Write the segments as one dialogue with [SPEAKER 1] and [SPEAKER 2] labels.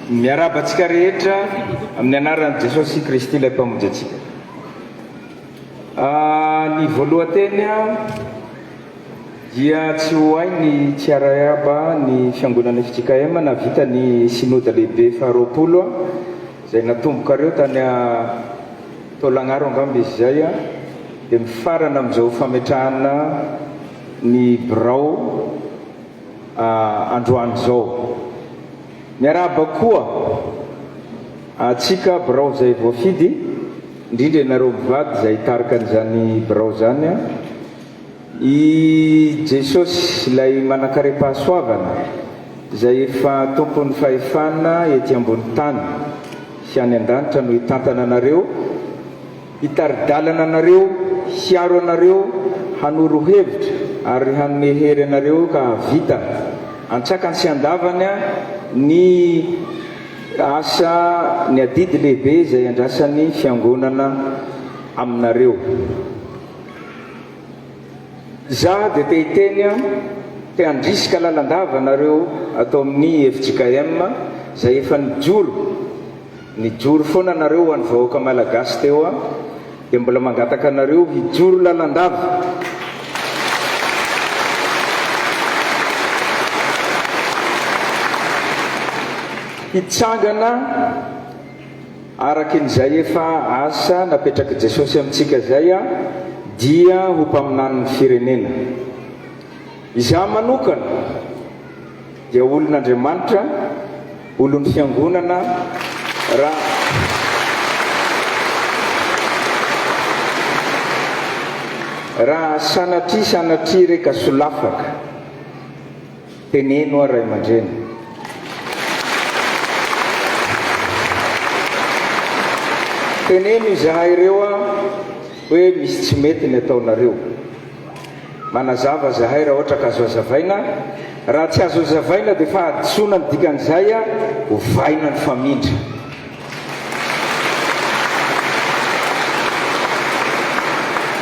[SPEAKER 1] Miarahaba antsika rehetra amin'ny anaran'i Jesosy Kristy ilay mpamonjy antsika. Ah, ny voalohan-teny dia tsy ho hay ny tsy arahaba ny fiangonana FJKM na vita ny synoda lehibe faharoapolo izay natombokareo tany Taolagnaro angamba izy izay a! Dia mifarana amin'izao fametrahana ny birao androany izao. Miarahaba koa antsika birao izay voafidy, indrindra ianareo mpivady izay hitarika an'izany birao izany a! I Jesosy, ilay manankarem-pahasoavana, izay efa Tompon'ny fahefana ety ambony tany sy any an-danitra no hitantana anareo, hitari-dalana anareo, hiaro anareo, hanoro hevitra ary hanome hery anareo ka hahavita, an-tsakany sy an-davany, ny asa, ny adidy lehibe izay andrasan'ny Fiangonana aminareo. Za dia te hiteny an, te handrisika lalandava anareo ato amin'ny fjkm izay efa nijoro, nijoro foana nareo ho an'ny vahoaka Malagasy teo an, dia mbola mangataka anareo hijoro lalandava. Hitsangana. Arakin'izay efa asa napetrak'i Jesosy amintsika izay aho dia ho mpaminanin'ny firenena. Izaho manokana dia olon'Andriamanitra, olon'ny Fiangonana raha raha sanatria sanatria re ka solafaka. Teneno aho ray aman-dreny. Teneno izahay ireo aho hoe misy tsy mety ny ataonareo. Manazava izahay raha ohatra ka azo azavaina, raha tsy azo azavaina dia fahadisoana ny dikan'izay aho, ovaina ny famindra.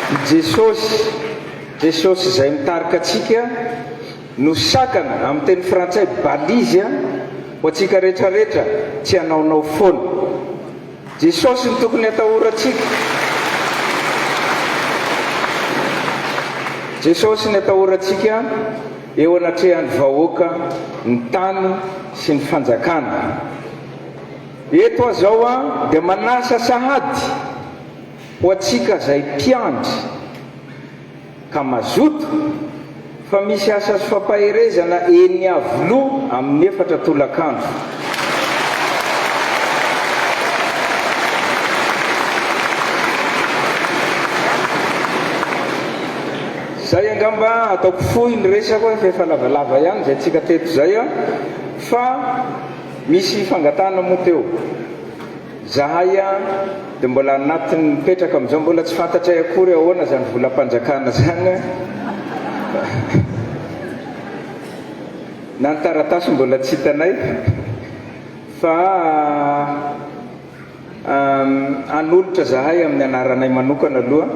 [SPEAKER 1] I Jesosy. Jesosy izay mitarika antsika no sakana, amin'ny teny frantsay balise, ho antsika rehetra rehetra, tsy hanaonao foana. Jesosy no tokony hatahorantsika. Jesosy ny atahorantsika eo anatrehan'ny vahoaka, ny tany sy ny fanjakana. Eto aho izao dia manasa sahady. Ho antsika zay mpiandry ka mazoto fa misy asa sy fampaherezana eny Iavoloha amin'ny efatra tolakandro. Zay angamba ataoko fohy ny resako fa efa lavalava ihany zay tsika teto zay fa misy fangatahana moa teo. Zahay an de mbola anatiny mipetraka amizao mbola tsy fantatray akory ahoana zany volampanjakana zany an na ny taratasy mbola tsy hitanay fa hanolotra zahay aminy anaranay manokana aloha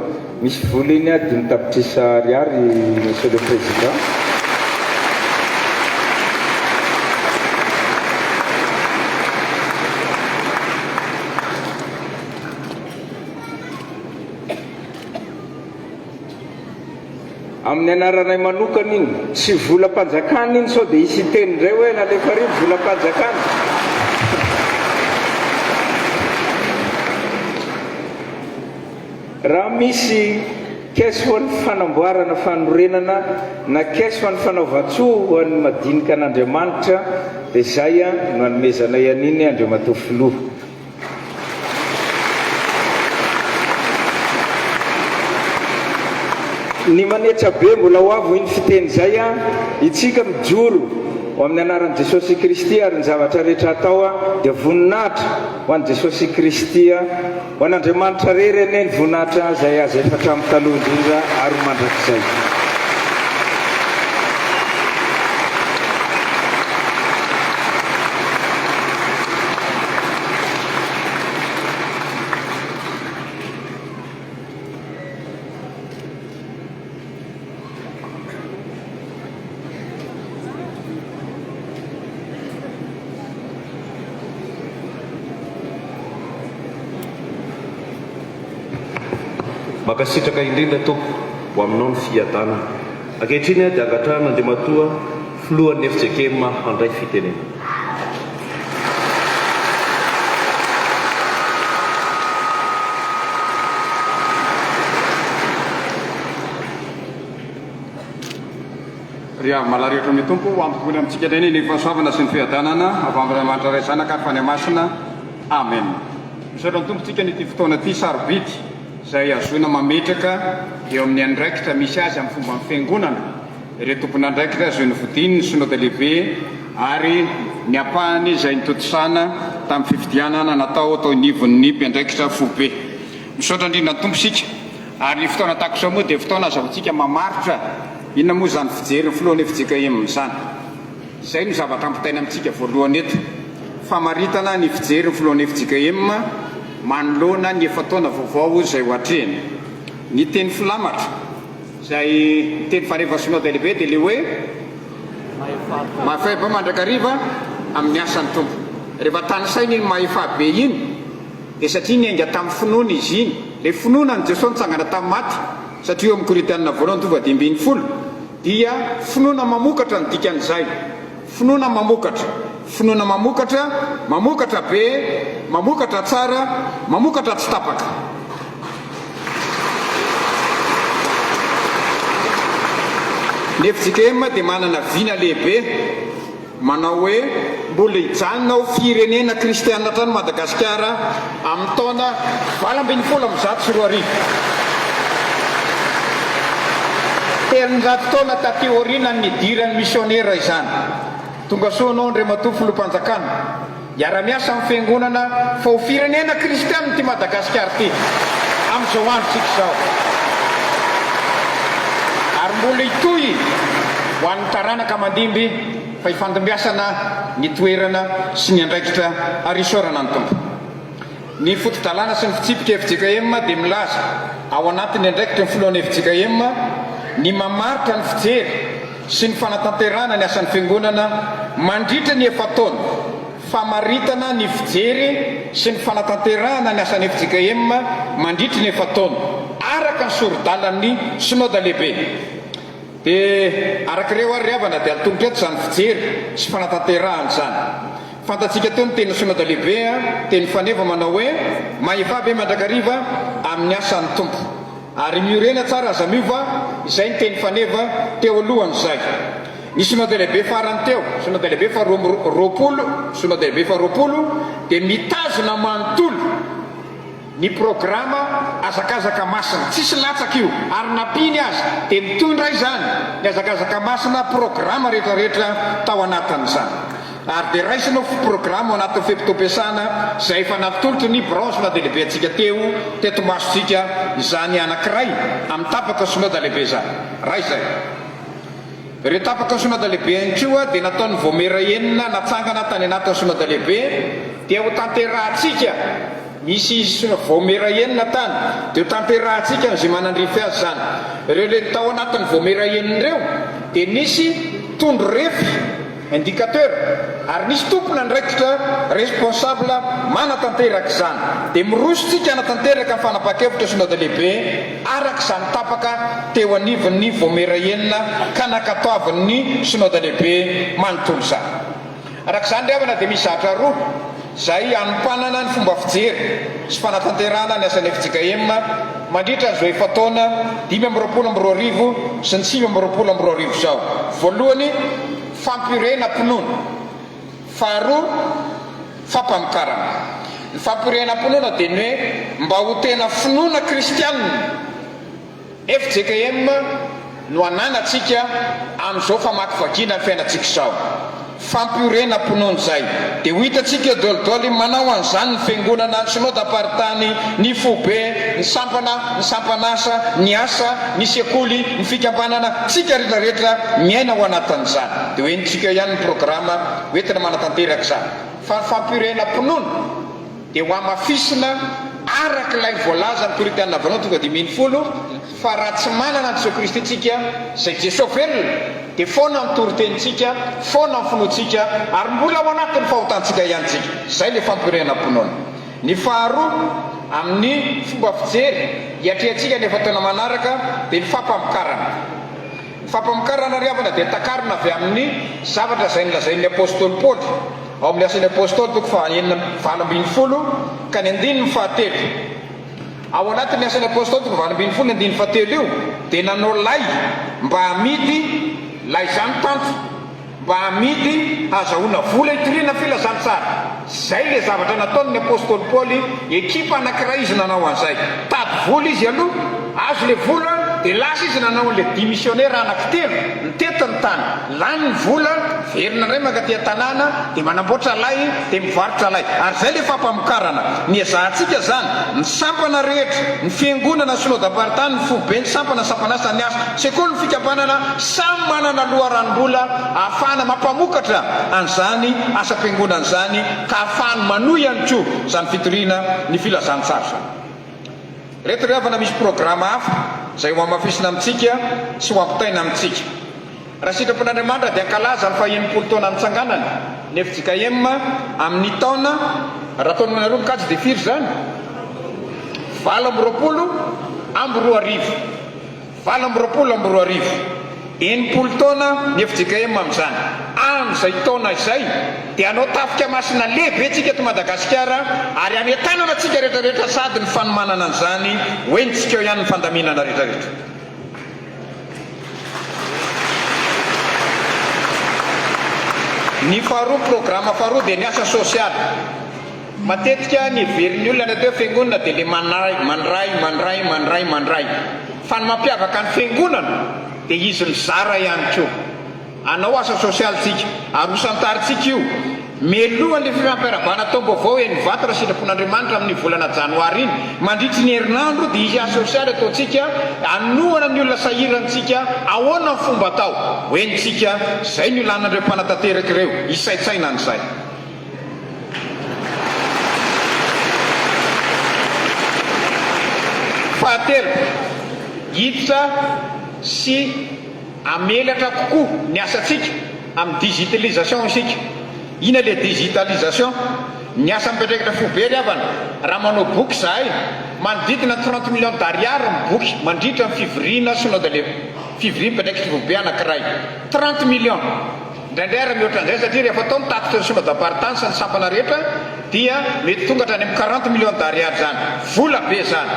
[SPEAKER 1] Misy vola eny ah, dimy tapitrisa ariary Monsieur le Président. Amin'ny anaranay manokana iny, tsy volam-panjakana iny sao dia hisy hiteny indray hoe nalefa ary ny volam-panjakana. Raha misy Caisse ho an'ny fanamboarana fanorenana na Caisse ho an'ny fanaovan-tsoa ho an'ny madinika an'Andriamanitra dia izay no hanomezanay an'iny Andriamatoa Filoha. Ny manetra be mbola ho avy hoy ny fiteny izay Itsika mijoro ho amin'ny anaran'i Jesosy Kristy ary ny zavatra rehetra atao dia voninahitra ho an'i Jesosy Kristy. Ho an'Andriamanitra rery anie ny voninahitra izay azy efa hatramin'ny taloha indrindra ary ho mandrakizay.
[SPEAKER 2] Mankasitraka indrindra Tompo ho aminao ny fiadanana. Ankehitriny dia angatrarina Andriamatoa. Filohan'ny fjkm handray fitenenana.
[SPEAKER 3] Ry havy malahrehetra amin'ny Tompo, ho ambohoina amintsika indray ny ny fahasoavana sy ny fiadanana avy amin'Andriamanitra Ray Zanaka ary Fanahy Masina. Amen. Misaotra ny Tompo antsika ny ity fotoana ity sarobidy izay ahazoana mametraka eo amin'ny andraikitra misy azy amin'ny fomban'ny Fiangonana, ireo tompon'andraikitra izay nofidian'ny Synoda Lehibe ary ny ampahany izay nitontosana tamin'ny fifidianana natao tao anivon'ny mpiandraikitra foibe. Misaotra indrindra ny Tompo isika ary ny fotoana tahaka izao moa dia fotoana azahoantsika mamaritra inona moa izany fijerin'ny filohan'ny fjkm izany. Izay no zavatra ampitaina amintsika voalohany eto, famaritana ny fijerin'ny filohan'ny fjkm manoloana ny efa-taona vaovao izay ho atrehina. Ny teny filamatra. Izay niteny fa rehefa Synode lehibe dia ilay hoe mahefabe mandrakariva amin'ny asan'ny Tompo. Rehefa tanisaina iny mahefabe iny dia satria niainga tamin'ny finoana izy iny. Ilay finoana an'i Jesosy nitsangana tamin'ny maty, satria eo amin'ny Korintianina voalohany tova dimy ambin'ny folo dia finoana mamokatra ny dikan'izay. Finoana mamokatra, finoana mamokatra, mamokatra be, mamokatra tsara, mamokatra tsy tapaka. Ny fjkm dia manana vina lehibe manao hoe mbola hijanona ho firenena kristiana hatrany Madagasikara Amin'ny taona valo ambin'ny folo amby zato sy roa arivo, telonjato taona taty aorianan'ny nidiran'ny misionera izany, tonga soa anao Andriamatoa Filoham-panjakana, hiara-miasa amin'ny Fiangonana fa ho firenena kristianina ity Madagasikara ity amin'izao androntsika izao ary mbola hitohy ho an'ny taranaka mandimby. fa ifandimbiasana ny toerana sy ny andraikitra ary isaorana ny Tompo. Ny foto-dalàna sy ny fitsipika fjkm dia milaza ao anatin'ny andraikitry ny filohan'ny fjkm ny mamaritra ny fijery sy ny fanatanterahana ny asan'ny Fiangonana mandritra ny efa-taona, famaritana ny fijery sy ny fanatanterahana ny asan'ny fjkm mandritry ny efa-taona araka ny sori-dalan'ny Synoda Lehibe. Dia araka ireo ary ry havana dia atolotra eto izany fijery sy fanatanterahana izany. Fantatsika toa ny tenin'ny Synoda Lehibe teny Faneva manao hoe, Mahefa be mandrakariva amin'ny asan'ny Tompo. Ary miorena tsara aza miova izay ny teny Faneva teo alohan'izay. Ny Synoda Lehibe farany teo, Synoda Lehibe faharoa amby roapolo, Synoda Lehibe faharoapolo, dia mitazona manontolo, ny programa Hazakazaka Masina. Tsisy latsaka io ary na mpino aza dia mitondra izany ny Hazakazaka Masina programa rehetra rehetra tao anatin'izany ary dia raisina ho programa ao anatin'ny fe-potoam-piasana izay efa natolotry ny Branche na dia lehibe antsika teo teto masontsika izany anankiray amin'ny tapaka Synoda Lehibe izany. Raha izay. Ireo tapaka Synôda Lehibe an-troa dia nataon'ny Vaomiera enina natsangana tany anatin'ny Synôda Lehibe dia ho tanterahantsika, misy Vaomiera enina tany, dia ho tanterahantsika amin'izay manandrify azy izany. Ireo le tao anatin'ny Vaomiera enina ireo dia nisy tondro refy, indicateur, ary nisy tompon'andraikitra, responsable, manatanteraka izany. Dia miroso tsika hanatanteraka ny fanapahan-kevitra Synôda Lehibe. araka izany tapaka teo anivon'ny Vaomiera enina ka nankatoavin'ny Synoda Lehibe manontolo izany. Araka izany ry havana dia misy zavatra roa izay hanompanana ny fomba fijery sy fanatanterahana ny asan'ny fjkm mandritra izao efa-taona dimy amby roapolo amby roa arivo sy ny sivy amby roapolo amby roa arivo izao. Voalohany, fampiorenam-pinoana. Faharoa, fampamokarana. Ny fampirehenampinoana dia ny hoe mba ho tena finoana kristianina. Fjkm no ananantsika amin'izao famakivakiana ny fiainantsika izao. Fampiorenam-pinoana izay. Dia ho hitantsika eo daholodaoly manao an'izany ny fiangonana, ny synodamparitany, ny foibe, ny sampana, ny sampan'asa, ny asa, ny sekoly, ny fikambanana, tsika retraretra miaina ao anatin'izany. Dia ho henontsika eo ihany ny programa hoentina manatanteraka izany. Fa ny fampirehenampinoana dia hohamafisina araka ilay voalazan'ny Korintiana Voalohany tonga dimy ambin'ny folo, Fa raha tsy manana an'i Jesoa Kristy isika, izay Jesoa velona, dia foana ny toritenintsika, foana ny finoantsika, ary mbola ao anatin'ny fahotantsika ihany isika. Izay ilay fampirehenampinoana. Ny faharoa, amin'ny fomba fijery hiatrehantsika ny efa-taona manaraka, dia ny fampamokarana. Ny fampamokarana ry havana dia takarina avy amin' ny zavatra izay nolazain' ny apostoly Paoly ao amin' ny Asan' ny Apostoly toko fahaenina amby valo ambin'ny folo ka ny andininy fahatelo. Ao anatin' ny Asan' ny Apostoly toko valo ambin'ny folo ny andininy fahatelo io dia nanao lay mba hamidy lay izany tanty. Mba amidy hazahoana vola hitoriana filazantsara. Zay le zavatra nataon'ny apostoly Paoly, ekipa anakiray izy nanao an'izay. Tady vola izy aloha, azo le vola de lasa izy nanao an'le dimisionera anakitelo, nitety ny tany, lany ny vola, miverina indray mankaty an-tanàna, de manamboatra lay de mivarotra lay. Ary zay le fampamokarana. Ny ezahantsika zany, ny sampana rehetra, ny fiangonana, synodam-paritany, ny foibe, ny sampana, ny sampan'asa, ny asa, sekoly, ny fikambanana, Samy manana loharanom-bola ahafahana mampamokatra an'izany asam-piangonana izany ka ahafahany manohy ihany koa izany fitoriana ny filazantsara izany. Ireto ry havana misy programa hafa izay ho hamafisina amintsika sy ho ampitaina amintsika. Raha sitrapon' Andriamanitra dia hankalaza ny faha-enimpolo taona nitsanganany ny fjkm amin'ny taona, raha ataonao anareo mikajy dia firy izany? valo amby roapolo amby roa arivo. Valo amby roapolo amby roa arivo. Enimpolo taona ny fjkm amin'izany. Amin'izay taona izay dia hanao tafika masina lehibe tsika eto Madagasikara ary hanentanana antsika rehetrarehetra sady ny fanomanana an'izany hoe ny tsikao ihany ny fandaminana rehetrarehetra. Ny faharoa, programa faharoa dia ny asa sosialy. Matetika ny heverin'ny olona rehefa hoe fiangonana dia ilay manahy, mandray, mandray, mandray, mandray. Fa ny mampiavaka ny fiangonana dia izy mizara ihany koa. Hanao asa sosialy tsika, arosan-taritsika io, mialoha ny fifampiarabana taom-baovao eny Ivato raha sitrapon'Andriamanitra amin'ny volana janoary iny. Mandritry ny herinandro dia hisy asa sosialy ataontsika hanohana ny olona sahirantsika ahoana ny fomba atao ho henontsika, izay no ilanan'ireo mpanatanteraka ireo hisaintsaina an'izay. Fahatelo, hiditra sy hamelatra kokoa ny asantsika amin'ny digitalisation isika. Ina le digitalisation? Ny asa mipatraikatra fo be ry havana, raha manao boky izahay, manodidina ny trente millions d'ariary ny boky mandritra ny fivoriana synode le fivoriam-piantraikitra foibe anankiray. Trente millions! Indraindray ary mihoatra an'izay satria rehefa atao ny tatitra ny sôma damparitany sy ny sampana rehetra dia mety tonga hatrany amin'ny quarante millions d'ariary izany. Vola be izany.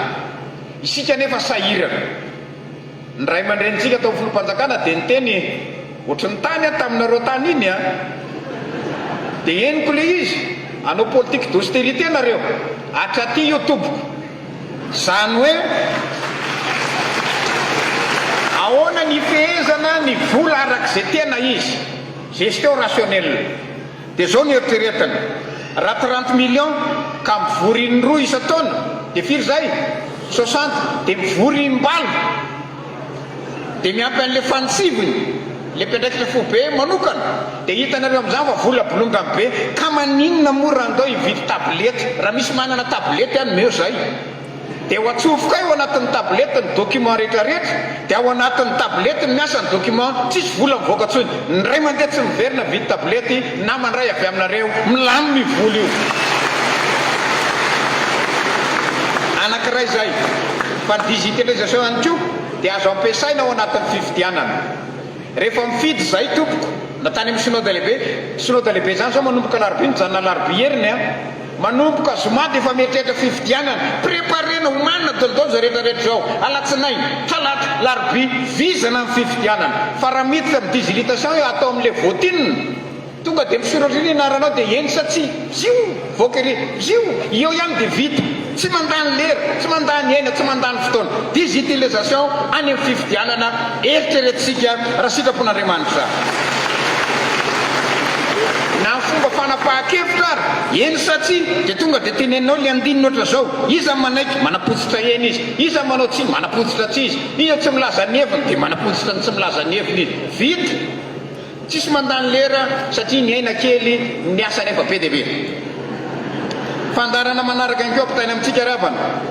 [SPEAKER 3] Isika anefa sahirana. Ny ray aman-drenintsika tao amin'ny filoham-panjakana dia niteny ohatry ny tany aho taminareo tany iny an! Dia henoko ilay izy, hanao politique d'austérité nareo, hatraty io tompoko. Izany hoe ahoana ny hifehezana ny vola araka izay tena izy, gestion rationnelle. Dia izao no eritreretiny, raha trente millions ka mivory in-droa isan-taona dia firy izay? Soixante, dia mivory im-balo. Dia miampy an'ilay fanitsiviny, ilay mpiandraikitra foibe manokana, dia hitanareo amin'izany fa vola bolongany be, ka maninona moa raha andao hividy tablette, raha misy manana tablette any omeo izay, dia ho atsofokay ao anatin'ny tablette ny document rehetrarehetra, dia ao anatin'ny tablette no miasa ny document, tsisy vola mivoaka intsony, ny ray mandeha tsy miverina mividy tablette, na mandray avy aminareo, milamina io vola io. Anankiray izay. Fa ny digitalisation ihany koa dia azo ampiasaina ao anatin'ny fifidianana. Rehefa mifidy izahay tompoko, na tany amin'ny Synode Lehibe, Synode Lehibe izany izao manomboka alarobia mijanona alarobia heriny an! Manomboka zoma dia efa mieritreritra fifidianana, preparena, omanina, daholodaolo izao rehetra rehetra izao, alatsinainy, talata, larobia, vizana ny fifidianana. Fa raha miditra amin'ny digilitation atao amin'ilay voatinina, Tonga dia miseho eroa ery ny anaranao dia eny sa tsia, bziou, mivoaka ery, bziou, eo ihany dia vita. Tsy mandany lera, tsy mandany aina, tsy mandany fotoana. Digitalisation any amin'ny fifidianana, eritreretintsika raha sitrapon'Andriamanitra. Na amin'ny fomba fanapahan-kevitra ary, eny sa tsia, dia tonga dia teneninao ilay andininy ohatran'izao, iza ny manaiky, manapotsitra eny izy, iza ny manao tsia, manapotsitra tsia izy, iza tsy milaza ny heviny, dia manapotsitra ny tsy milaza ny heviny izy. Vita! Tsisy mandany lera satria ny aina kely ny asa nefa be dia be. Fandaharana manaraka inko ampitaina amintsika ravana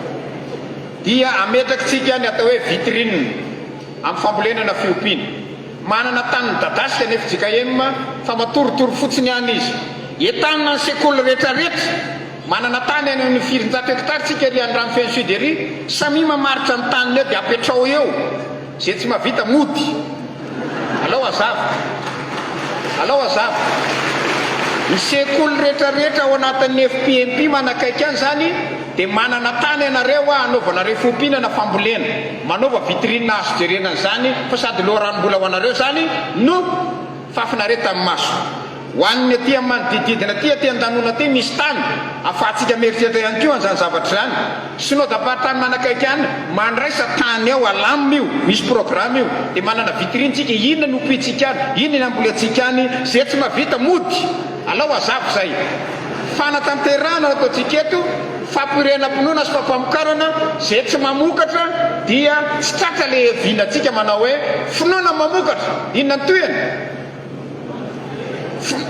[SPEAKER 3] dia ametrakitsika ny atao hoe vitrine am fambolenana fiompiana. Manana tany midadasika ny fjkm fa matoritory fotsiny ihany izy. Entanina ny sekoly rehetra rehetra. Manana tany any amin ny firinjato hectare tsika ery andrano feno sud ery. Samia mamaritra ny taniny eo dia apetraho eo. Zay tsy mavita mody. Alao azava. Alao azava. Ny sekoly retra retra ao anatin'ny FPMP manakaiky an zany dia manana tany anareo hoa anaovana refompihinana fambolena. Manaova vitrine azo jerena an'izany fa sady loharanom-bola ho anareo zany no fahafinaretan'ny maso. Ho an'ny aty amin'ny manodididina aty, aty an-danona aty misy tany afahantsika mieritreritra ihany koa an'izany zavatra izany. Synodam-paritany manakaiky any, mandraisa tany ao alamina io, misy programa io, dia manana vitrine tsika, inona ny ompiantsika any, inona ny hambolentsika any, izay tsy mahavita mody, alao hazava izay. Fanatanterahana no ataontsika eto, fampirenam-pinoana sy fampamokarana, izay tsy mamokatra dia tsy tratra ilay vinantsika manao hoe, finoana mamokatra, inona ny tohiny?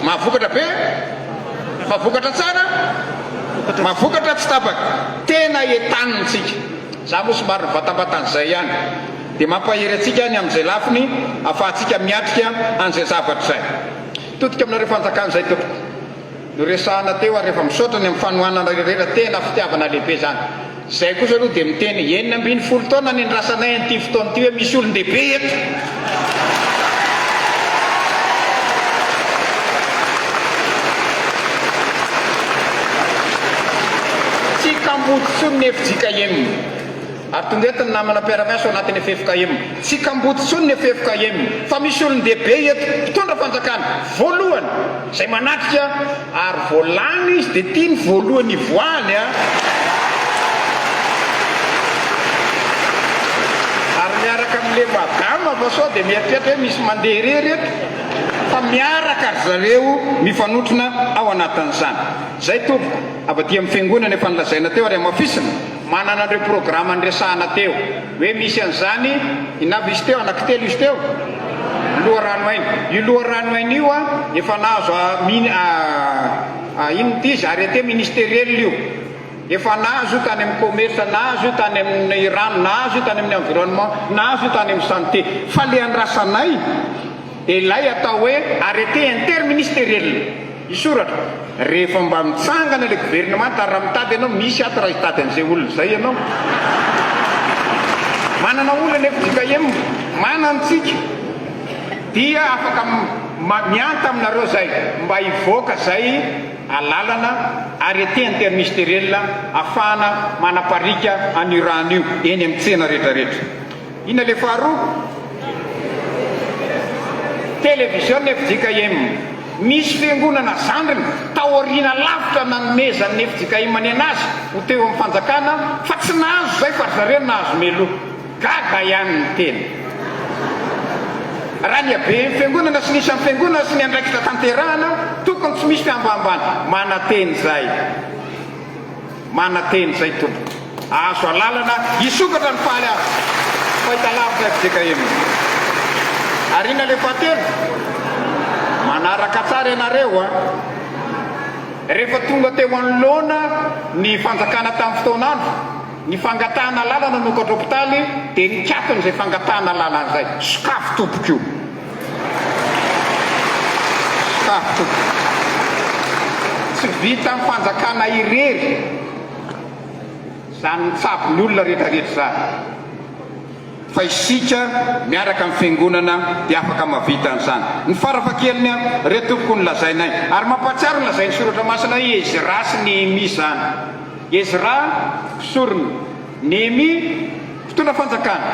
[SPEAKER 3] Mahavokatra be, mahavokatra tsara, mahavokatra tsy tapaka. Tena etanintsika. Za moa somary nivatambatan'izay ihany. Dia mampahery antsika ny amin'izay lafiny afahantsika miatrika an'izay zavatra izay. Todika aminareo fanjakan'izay tompoko. Noresahana teo ary efa misaotra ny amin'ny fanohananareo irera tena fitiavana lehibe izany. Izay kosa aloha dia miteny enina ambin'ny folo taona nendrasanay an'ity fotoana ity hoe misy olon-dehibe eto. Tsy kamboty intsony ny FJKM. Ary tonga eto ny namana mpiara-miasa ao anatin'ny ffkm. Tsy kamboty intsony ny ffkm fa misy olon-dehibe eto, mpitondra fanjakana, voalohany, izay manatrika ary vao lany izy dia ity ny voalohany hivoahany a! Ary miaraka amin'ny le madama fa sao dia mieritreritra hoe misy mandeha irery eto fa miaraka ry zareo mifanotrona ao anatin'izany. Izay tompoko, avy aty amin'ny fiangonana efa nolazaina teo ary hamafisina. Manana an'ireo programa niresahana teo hoe misy an'izany i Navis teo, anaky telo izy teo, loharano haino. Io loharano haino io a, efa nahazo a min a a inona ity izy, arrêté ministériel io. Efa nahazo io tany amin'ny commerce, nahazo io tany amin'ny rano, nahazo io tany amin'ny environnement, nahazo io tany amin'ny santé. Fa ilay andrasanay dia ilay atao hoe arrêté interministériel. Hisoratra, rehefa mba mitsangana ilay governemanta, ary raha mitady ianao, misy ato raha hitady an'izay olona izay ianao. Manana olona ny FJKM, manana antsika, dia afaka mianta aminareo izay mba hivoaka izay alalana, arrêté intermisteriel, ahafahana manapariaka an'io rano io eny amin'ny tsena rehetrarehetra. Inona le faharoa? Télévision fjkm. Misy fiangonana zandriny tao aoriana lavitra nanomezan'ny fjkm ny anazy ho teo amin'ny fanjakana fa tsy nahazo izay fa ry zareo nahazo meloa. Gaga ihany ny tena. Raha ny haben'ny fiangonana sy ny isan'ny fiangonana sy ny andraikitra tanterahana, tokony tsy misy fihambahambana. Manantena izay. Manantena izay tompoko. Ahazo alalana hisokatra ny faly azo. Fahitalavitra fjkm. Ariana le fahatelo. Manaraka tsara ianareo a. Rehefa tonga teo anoloana ny fanjakana tamin'ny fotoan'andro ny fangatahana alalana nokadrao mpitaly dia nikatona izay fangatahana alalana izay. Sokafy tompoko io. Tsy vitan'ny fanjakana irery izany mitsabo ny olona rehetra rehetra izany fa isika miaraka amin'ny fiangonana dia afaka mahavita an'izany. Ny farafahakeliny an, ireo tompoko ny lazainay. Ary mampahatsiaro ny lazain'ny soratra masina hoe Ezra sy Nehemia izany. Ezra mpisorona. Nehemia, mpitondra fanjakana,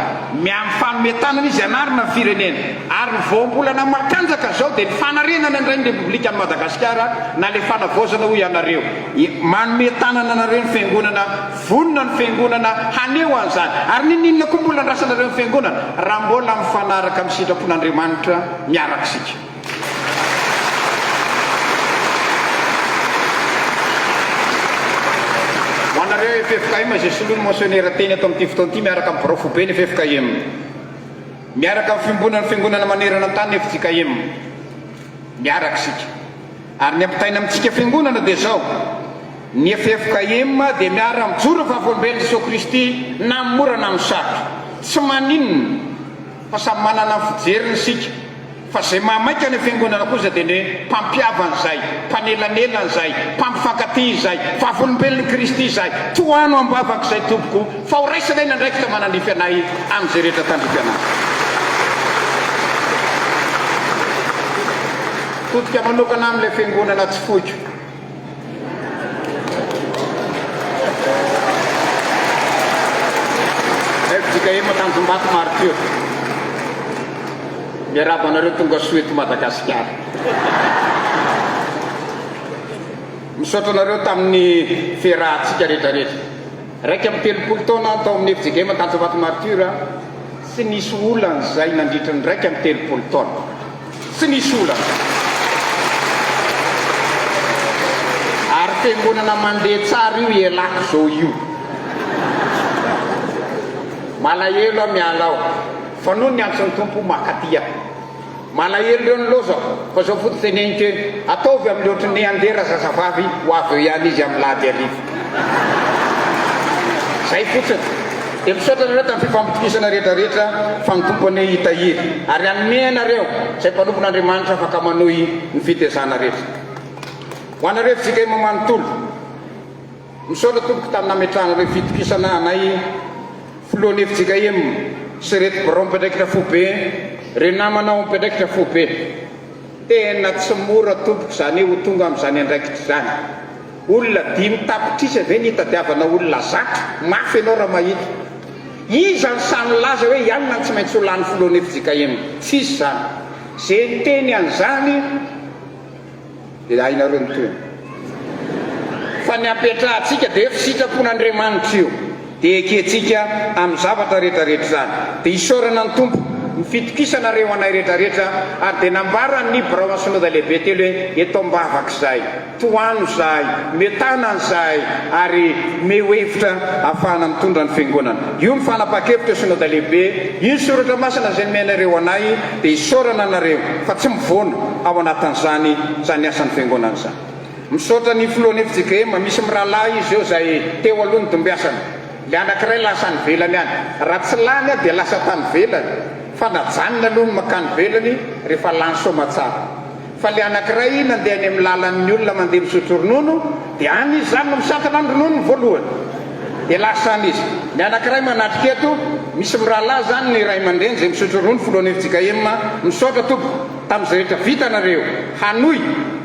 [SPEAKER 3] miahy mifanome tanana izy hanarina ny firenena. Ary ny voambolana matanjaka izao dia ny fanarenana indray ny Repoblikan'i Madagasikara na ilay fanavaozana hoy ianareo. Manome tanana anareo ny Fiangonana, vonona ny Fiangonana haneho an'izany. Ary ninoninona koa mbola andrasanareo ny Fiangonana raha mbola mifanaraka amin'ny sitrapon'Andriamanitra miaraka isika. Ho anareo ffkm izay soloin'ny motionera teny eto amin'ity fotoana ity miaraka amin'ny birao foiben'ny ffkm, miaraka amin'ny fiombonan'ny fiangonana manerana ny tany ny fjkm, miaraka isika. Ary ny ampitaina amintsika fiangonana dia izao, ny ffkm dia miara mijoro ny vavolombelon'i Jesoa Kristy na amin'ny mora na amin'ny sarotra. Tsy maninona fa samy manana ny fijeriny isika. Fa izay mahamaika ny Fiangonana kosa dia ny mpampihavana izay, mpanelanelana izay, mpampifankatia izay, vavolombelon'i Kristy izay. Tohano am-bavaka izay tompoko fa ho raisanay ny andraikitra manandrify anay amin'izay rehetra tandrify anay. Potika manokana amin'ilay Fiangonana tsy foiko. fjkm Tanjombato Martyr. Miarahaba anareo tonga soa eto Madagasikara. Misaotra anareo tamin'ny fiarahantsika rehetrarehetra. Iraika amby telopolo taona aho tao amin'ny fjkm Tanjombato Martyr, tsy nisy olana izay nandritra ny iraika amby telopolo taona. Tsy nisy olana. Ary fiangonana mandeha tsara io ialako zao io. Malahelo aho miala ao fa noho ny antson'ny Tompo makaty aho. Malahelo reo ny loza fa zao foto teneniko eny ataovy amin'ny ohatry ny andeha razazavavy ho avy eo ihany izy amin'ny lahady hariva. Zay fotsiny. Dia misaotra anareo tamin'ny fifampitokisana rehetra rehetra fa ny Tompo anie hitahiry ary hanome anareo izay mpanompon'Andriamanitra afaka manohy ny fitezana rehetra. Ho anareo JKM manontolo, misaotra tompoko tamin'ny nametrahanareo fitokisana anay Filohan'ny fjkm sy reto birao mpiandraikitra foibe, reo namana ao mpiandraikitra foibe. Tena tsy mora tompoko zany ho tonga amin'izany andraikitra izany. Olona dimy tapitrisa ve ny hitadiavana olona zatra? Mafy ianao raha mahita. Iza no sahy milaza hoe i alina no tsy maintsy ho lany filohan'ny fjkm? Tsisy izany. Ze niteny an'izany dia hainareo ny tohiny. Fa ny ampiatrahantsika dia efa sitrapon'Andriamanitra io dia ekentsika amin'ny zavatra rehetra rehetra izany. Dia isaorana ny Tompo. Ny fitokisana re ho anay rehetra rehetra ary dia nambaran'ny Birao Ansinodalehibe telo hoe eto ambavak'izay. Tohano izahay, mietana izahay ary mihoe hevitra hahafahana mitondra ny Fiangonana. Io no fanapahan-kevitra Synoda Lehibe. Io ny Soratra Masina izay nomenareo anay dia isaorana anareo fa tsy mivoana ao anatin'izany izany asan'ny Fiangonana izany. Misaotra ny Filohan'ny FJKM, misy mirahalahy izy eo izay teo aloha nidimbiasana. Ilay anankiray lasa any ivelany any. Raha tsy lany aho dia lasa tany ivelany fa najanony aloha ny mankany ivelany rehefa lany soamantsara. Faly anankiray nandeha any amin'ny lalan'ny olona mandeha misotro ronono, dia any izy izany no misantana ny rononony voalohany. Dia lasa any izy. Ny anankiray manatrika eto, misy mirahalahy izany ny ray aman-dreny izay misotro ronono filohan'ny fjkm, misaotra tompoko tamin'izay rehetra vitanareo, hanohy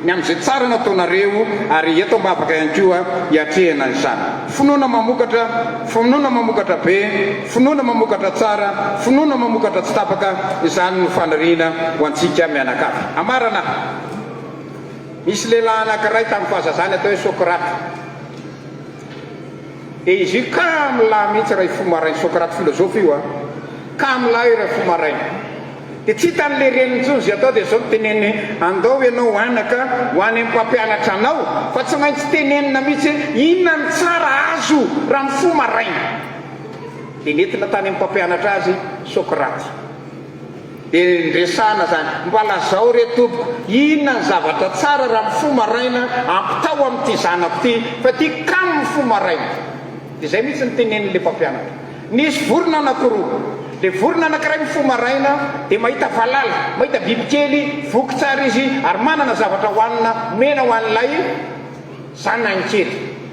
[SPEAKER 3] ny amin'izay tsara nataonareo ary eto am-bavaka ihany koa hiatrehina izany. Finoana mamokatra, finoana mamokatra be. Finoana mamokatra tsara, finoana mamokatra tsy tapaka, izany no faniriana ho antsika mianakavy. Ambarana aho. Nisy lehilahy anankiray tamin'ny fahazazany atao hoe Socrate. Dia izy io kamo lahy mihitsy raha hifoha maraina, Socrate filozofy io a! Kamo lahy io raha hifoha maraina. Dia tsy hitan'ny le reniny intsony izay atao dia izao no teneniny, Andao ianao anaka ho any amin'ny mpampianatra anao, fa tsy maintsy tenenina mihitsy hoe inona no tsara azo raha mifoha maraina. Dia nentina tany amin'ny mpampianatra azy Socrate. Dia niresahana izany. Mba lazao re tompoko, inona ny zavatra tsara raha mifoha maraina ampitao amin'ity zanako ity, fa tiako kamo mifoha maraina. Dia izay mihitsy no tenenin'ilay mpampianatra. Nisy vorona anankiroa. Ilay vorona anankiray mifoha maraina, dia mahita valala, mahita bibikely, voky tsara izy, ary manana zavatra hohanina omena ho an'ilay zanany kely.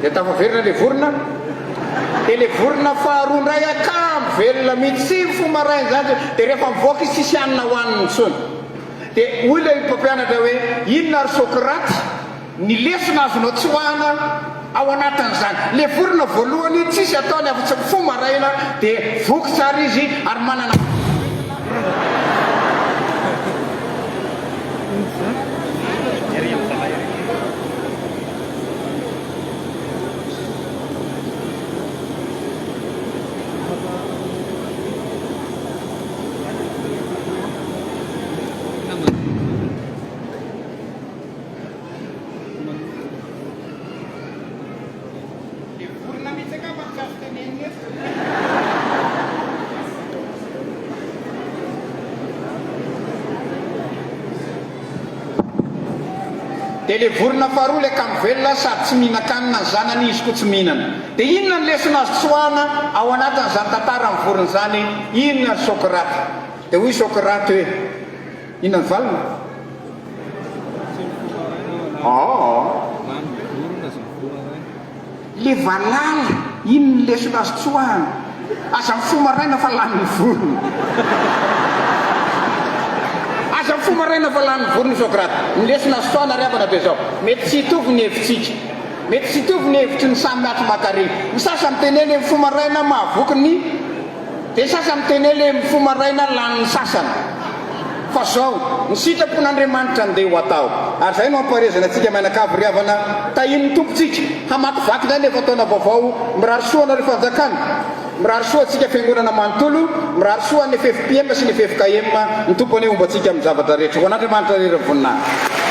[SPEAKER 3] Dia tafaverina ilay vorona. Dia ilay vorona faharoa indray akam velona mihitsy fo maraina izany. Dia rehefa mivoaka izy tsisy hanina hohaniny intsony. Dia hoy ilay mpampianatra hoe inona ry Sokraty? Ny lesona azonao tsoahina ao anatin'izany, ilay vorona voalohany tsisy ataony afa-tsy mifoha maraina dia voky tsara izy ary manana vatana matanjaka. Dia le vorona faharoa le kamo velona sady tsy mihinan-kanina ny zanany izy koa tsy mihinana. Dia inona ny lesona azo tsoahana ao anatin'izany tantaran'ny vorona izany? Inona ry Socrate? Dia hoy Socrate hoe. I Navalona? Aa! Le valala iny ny lesona azy tsoahana, aza mifoha maraina fa lany ny vorona. Aza mifoha maraina fa lany ny vorona i Socrate. Ny lesona azo tsoahana ry havana dia zao, mety tsy hitovy ny hevitsika, mety tsy hitovy ny hevitry ny samy miatromakaria. Ny sasany miteny hoe le mifoha maraina mahavoky ny. Dia sasa miteny hoe le mifoha maraina lany ny sasany. Fa zao, ny sitrapon'Andriamanitra andeha ho atao. Ary zay no ampaherezana antsika mianakavy ry havana, tahin'ny Tompo tsika, hamakivaky indray ny efa-taona vaovao, mirary soa anareo fanjakana, mirary soa antsika fiangonana manontolo, mirary soa an'ny FFPM sy ny ffkm, ny Tompo anie homba antsika amin'ny zavatra rehetra. Ho an'Andriamanitra irery ny voninahitra.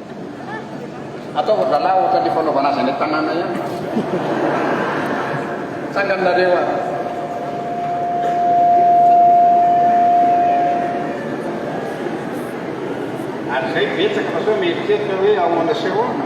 [SPEAKER 3] Ataovy zalah ohatran le fanaovana azy any an-tanàna ihany. Tsangany nareo a. Ary izay betsaka fa sao mieritreritra hoe ahoana sy ahoana.